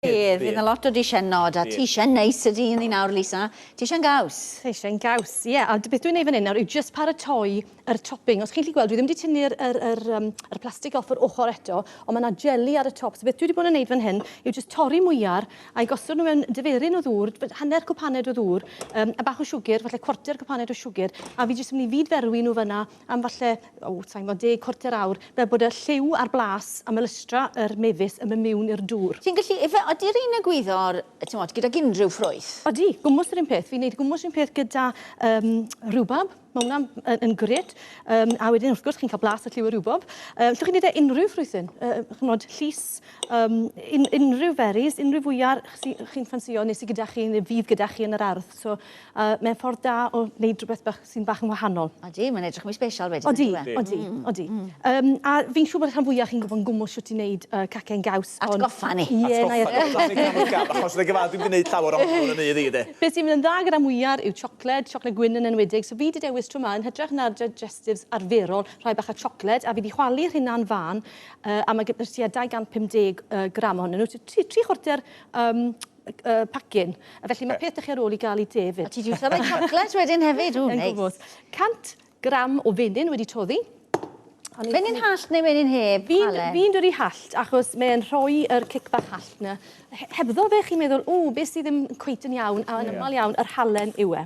Bydd, bydd 'na lot o dishyn nod a tishyn neis sy 'di un ni nawr Lisa, tishyn gaws. Tishyn gaws, ie, a beth dwi'n neud fan 'yn nawr yw jyst paratoi yr topping, os chi'n gallu gweld dwi ddim 'di tynnu'r yr yr yym yr plastic off yr ochor eto ond ma' 'na jeli ar y top so beth dwi 'di bod yn neud fan hyn yw jyst torri mwyar a'i gosod nhw mewn diferyn o ddŵr, hanner cwpaned o ddŵr yym a bach o siwgr, falle cwarter cwpaned o siwgr a fi jyst yn myn' i fyd-ferwi nhw fan 'na am falle, o, sai'n gwybod, deg, cwarter awr, fel bod y lliw a'r blas a melystra yr mefus yn mynd miwn i'r dŵr. Ti'n gallu, ife, odi r'un egwyddor, t'mod, gydag unrhyw ffrwyth? Odi, gwmws yr un peth. Fi'n neud gwmws un peth gyda yym rwbab. Ma' wnna'n yn yn grêt. Yym a wedyn wrth gwrs chi'n cael blas a lliw y rwbwb. Yy llwch chi'n neud e unrhyw ffrwythyn. Yy ch'mod, llys, yym un- unrhyw berries, unrhyw fwya' chi chi'n ffansïo neu sy gyda chi neu fydd gyda chi yn yr ardd. So, uh, mae'n ffordd da o wneud rhywbeth bach sy'n bach yn wahanol. Odi, mae'n edrych mwy special wedyn. Odi, e? odi, mm, odi. Mm. Um, a fi'n siŵr bod rhan fwyaf chi'n gwybod yn gwmwl siwt i wneud uh, cacen gaws. At goffa ni. Ie, yeah, na i atgoffa. Achos dwi'n gyfad, dwi'n mynd i wneud llawer o'n hwn yn ei ddi, de. Beth sy'n mynd yn dda gyda mwyar yw siocled, siocled gwyn yn enwedig. So fi wedi dewis tro yma yn hytrach na'r digestives arferol, rhai bach o siocled, a fi wedi chwalu rhywna'n fan, uh, a mae gyda'r tua 250 uh, gram ohonyn nhw. So tri, tri chwarter um, y pacin. A felly mae peth 'da chi ar ôl i gael i de fyd. A ti 'di iwsio rhoi chocolate wedyn hefyd, ww neis. 100 gram o fenyn wedi toddi. Fenyn hallt neu fenyn heb, Ale? Fi'n dwri hallt achos mae e'n rhoi yr cic bach hallt 'na. Hebddo fe chi'n meddwl, ww, be sydd ddim cweit yn iawn, a yn amal iawn yr halen yw e.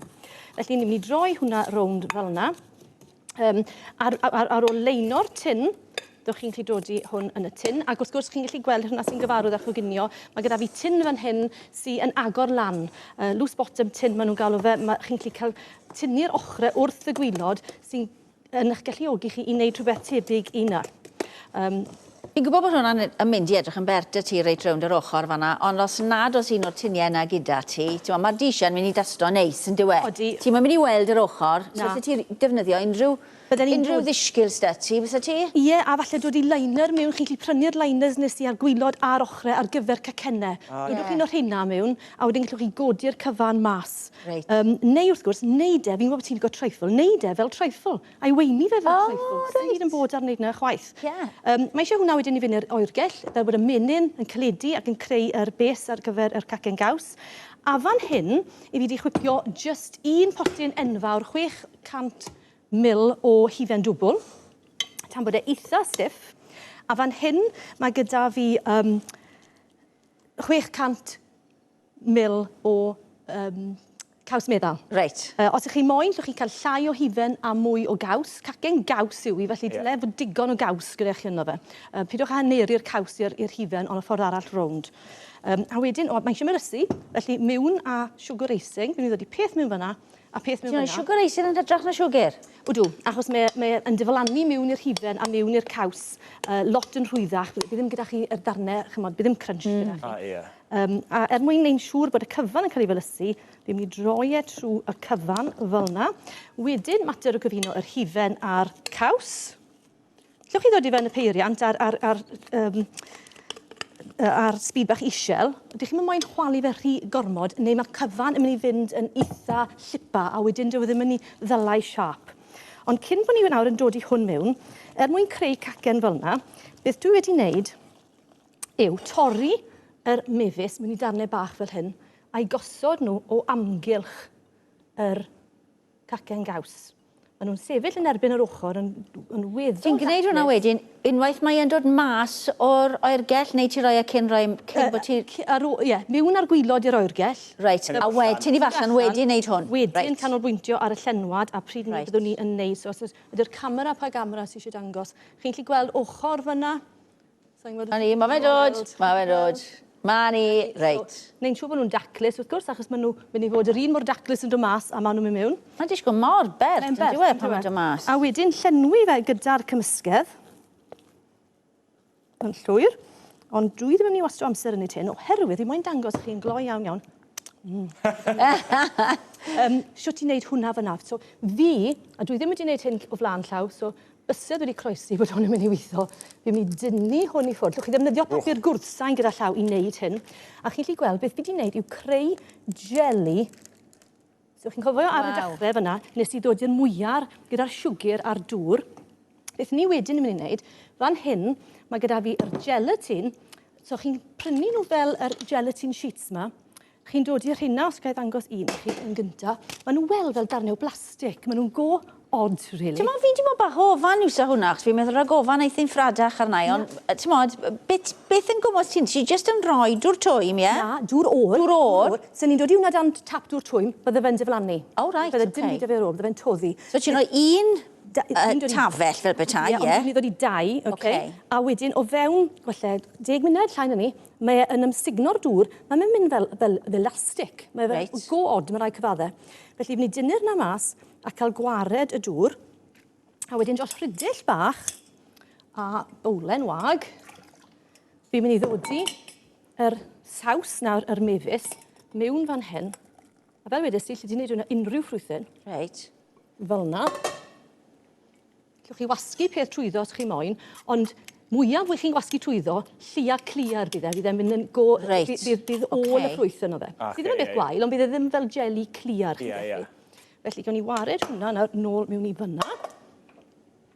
Felly ni'n mynd i droi hwnna rownd fel 'na. Um, ar, ar, ar ôl leino'r tin, dych chi'n gallu dodi hwn yn y tin. Ac wrth gwrs, chi'n gallu gweld hwnna sy'n gyfarwydd â choginio. Mae gyda fi tin fan hyn sy'n agor lan. Uh, loose bottom tin, maen nhw'n galw fe. Mae, chi'n gallu cael tynnu'r ochrau wrth y gwylod sy'n yn eich galluogi chi i wneud rhywbeth tebyg i yna. Um, Fi'n gwybod bod hwnna'n yn mynd i edrych yn bert 'da ti reit rownd yr ochr fan'na, ond os nad oes un o'r tinie yna gyda ti, t'mo' ma'r dishie'n mynd i dasto neis yndyw e? Odi. Ti'm yn mynd i weld yr ochr. Na. So allet ti defnyddio unrhyw... Bydden i'n dod. ...unrhyw ddishgil s'da ti, bysa ti? Ie, a falle dod i liner miwn, chi'n gallu prynu'r liners nes i ar gwilod a'r ochre ar gyfer cacenne. O ie. Dodwch un o rheina miwn, a wedyn gallwch chi godi'r cyfan mas. Reit. Yym neu wrth gwrs, neud e, fi'n gwybod bo' ti'n lico trifle, neud e fel trifle. I weini fe fel traethwch. O reit. Swn i ddim bod ar neud na chwaith. Ie. Yym mae eisiau hwnna wedyn i fynd i'r oergell fel bod y menyn yn caledu ac yn creu yr bês ar gyfer yr cacen gaws. A fan hyn i fi di chwipio jyst un potyn enfawr 600 mil o hufen dwbwl tan bod e eitha stiff. A fan hyn mae gyda fi yym 600 mil o um, caws meddal. Reit. Uh, os ych chi moyn, llwch chi'n cael llai o hufen a mwy o gaws. Cacen gaws yw i, felly dyle yeah. fod digon o gaws gyda chi yno fe. Uh, pidwch â haneri'r caws i'r hufen ond y ffordd arall rownd. Um, a wedyn, o, mae eisiau myrysu, felly miwn a sugar racing, fi'n ddod i peth miwn fyna, a peth miwn fyna. Sugar racing yn hydrach na sugar? Wdw, achos mae'n mae yn diflannu miwn i'r hufen a miwn i'r caws, uh, lot yn rhwyddach, bydd ddim gyda chi y darnau, chymod, bydd ddim crunch mm. gyda chi. Ah, yeah. Um, a er mwyn neu'n siŵr bod y cyfan yn cael ei felysu, fi'n mynd i droi e trwy y cyfan fel yna. Wedyn, mater o gyfuno yr hufen a'r caws. Llwch chi ddod i fewn y peiriant a'r, ar, ar, um, ar speed bach isel, ydych chi'n moyn chwalu fe rhy gormod, neu mae cyfan yn mynd i fynd yn eitha llipa, a wedyn dwi e ddim yn mynd i ddylai siap. Ond cyn bod ni nawr yn dod i hwn mewn, er mwyn creu cacen fel yna, beth dwi wedi wneud yw torri yr mefus mewn i darnau bach fel hyn a'i gosod nhw o amgylch yr cacen gaws. Maen nhw'n sefyll yn erbyn yr ochr yn, yn weddol Ti'n gwneud hwnna wedyn, unwaith mae e'n dod mas o'r oergell, neu ti roi e cyn roi, cyn bod ti... Ar ôl, ie, miwn ar gwylod i'r oergell. Reit, a wedyn ti'n i allan wedyn wneud hwn? Wedyn canolbwyntio ar y llenwad a pryd right. byddwn ni yn neud. So os ydy'r camera, pa gamera sy'n eisiau dangos, chi'n lli gweld ochr fyna? 'Na ni, ma' fe'n dod, ma' fe'n dod. 'Ma ni, reit. Neu'n siŵr bod nhw'n daclus, wrth gwrs, achos maen nhw mynd i fod yr un mor daclus yn dod mas a maen nhw'n mynd mewn. Mae'n disgwyl mor bert, yn dyw e, pan mae'n dod mas. A wedyn llenwi fe gyda'r cymysgedd yn llwyr. Ond dwi ddim yn mynd i wastio amser yn ei tin, oherwydd fi moyn dangos chi'n gloi iawn iawn Mm. um, siwt i wneud hwnna fyna. So, fi, a dwi ddim wedi wneud hyn o flaen llaw, so bysedd wedi croesi bod hwn yn mynd i weithio, fi'n mynd i dynnu hwn i ffwrdd. Llwch chi ddefnyddio papur gwrthsain gyda llaw i wneud hyn. A chi'n lli gweld beth fi wedi wneud yw creu jelly. So chi'n cofio ar y dechrau fyna, nes i ddod i'r mwyar gyda'r siwgr a'r dŵr. Beth ni wedyn yn mynd i wneud, fan hyn, mae gyda fi yr gelatin. So chi'n prynu nhw fel yr gelatin sheets yma. chi'n dod i'r rheina, os gael ddangos un i chi yn gynta. Maen nhw'n weld fel darnau o blastig. Maen nhw'n go odd, really. Ti'n modd, fi di bod bach o ofan i'w sa hwnna, achos fi'n meddwl rhag ofan eithin ffradach arna i, ond ti'n modd, beth, beth yn gwmwys ti'n, ti just yn rhoi dŵr twym, ie? Na, dŵr o'r. Dŵr o'r. Sa'n ni'n dod i hwnna dan tap dŵr twym, bydde fe'n diflannu. O, reit, oce. Bydde dim byd da fe ar ôl, bydde fe'n toddi. So ti'n rhoi un tafell fel petai, ie? Ie, ond ni'n dod i dau, oce? A wedyn o fewn, gwella, deg munud, llai na ni, Mae e yn ymsugno'r dŵr. Mae fe'n mynd fel, fel, fel elastic. Mae fe... Reit. ...go od, mae rai cyfadde. Felly, fy ni dynnu'r na mas a cael gwared y dŵr. A wedyn dros rhydell bach a bowlen wag, fi'n mynd i ddodi yr saws nawr, yr mefus, mewn fan hyn. A fel wedes i, lle ti'n neud hwnna unrhyw ffrwythyn. Reit. Fel na. Cewch chi wasgu peth trwyddo os chi moyn, ond mwyaf wych chi'n gwasgu trwyddo, lliar clear bydd e, fydd e'n mynd yn go... Reit, ocê. ...bydd, bydd all y ffrwyth yno fe. Ocê, ie. Sydd ddim yn beth gwael, ond bydd e ddim fel jeli clear chi'n gallu. Ie, ie. Felly, gewn ni wared hwnna nawr nôl mewn i fanna.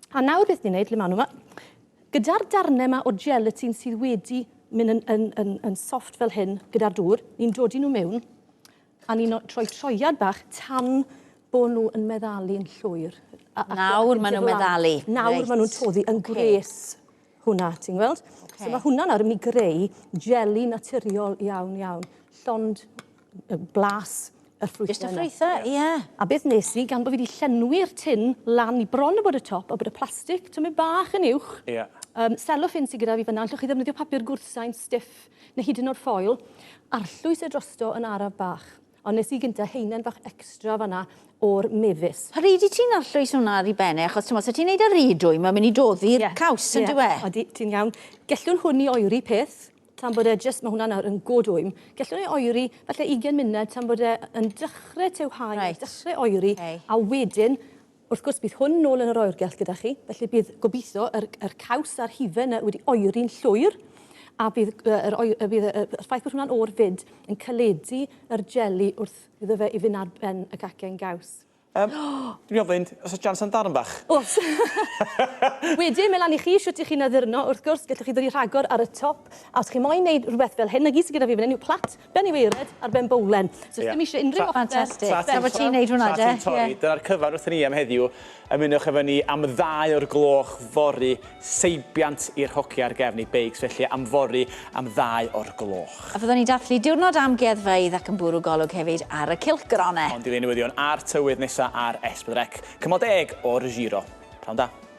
A nawr beth ni'n neud, le ma' nw 'ma, gyda'r darne 'ma o gelatine sydd wedi myn' yn yn yn yn soft fel hyn gyda'r dŵr, ni'n dodi nw mewn A ni'n troi troiad bach tan bod nhw yn meddalu'n llwyr. A, a nawr maen nhw'n meddalu. Nawr right. maen nhw'n toddi yn okay. gwres hwnna, ti'n gweld? Okay. So mae hwnna nawr yn mynd i greu jeli naturiol iawn iawn. Llond blas y ffrwythau. Just y ffrwythau, ie. Yeah. A beth nes i, gan bod fi wedi llenwi'r tin lan i bron o bod y top, o bod y plastig, tymau bach yn uwch. Ie. Yeah. Um, selofin sy'n gyda fi fyna, allwch chi ddefnyddio papur gwrthsain stiff neu hyd yn oed ffoil, arllwys e drosto yn araf bach. Ond nes i gynta haenen fach extra fanna o'r mefus. Pa ryd i ti'n arllwys hwnna ar i ben e? Achos t'mod, sa ti'n neud e ry dwy, mae'n mynd i doddi'r yeah. caws, yn dyw e? Yeah. Odi, ti'n iawn. Gellwn hwn i oeri peth, tan bod e jyst, mae hwnna nawr yn god wym. Gellwn ei oeri falle 20 munud tan bod e yn dechrau tewhau, right. dechrau oeri, okay. a wedyn Wrth gwrs, bydd hwn nôl yn yr oergell gyda chi, felly bydd, gobeithio, yr, yr caws a'r hufen yna wedi oeri'n llwyr, a bydd, yr, y, bydd y, y ffaith bod hwnna'n oer fyd yn caledu yr jeli wrth iddo fe i fynd ar ben y cacen gaws. Um, dwi'n ofyn, os oes jans am darn bach? Os! Wedyn, melan i chi, siwt i chi'n addurno, wrth gwrs, gallwch chi ddod i rhagor ar y top, a os chi moyn wneud rhywbeth fel hyn, na gyd sydd gyda fi fan hyn yw plat Ben i waered ar ben bowlen. So sdim isie unrhyw offer. Fantastic. Tra bo ti'n neud hwnna 'de. Tra ti'n torri. Dyna'r cyfan wrthyn ni am heddiw. Ymunwch efo ni am ddau o'r gloch fory, seibiant i'r hogia ar gefn eu beics felly am fory am ddau o'r gloch. A fyddwn ni'n dathlu diwrnod amgueddfeydd ac yn bwrw golwg hefyd ar y cylchgronau. Hon 'di rei newyddion a'r tywydd nesa ar S4C. Cymal deg o'r Giro. Pnawn da.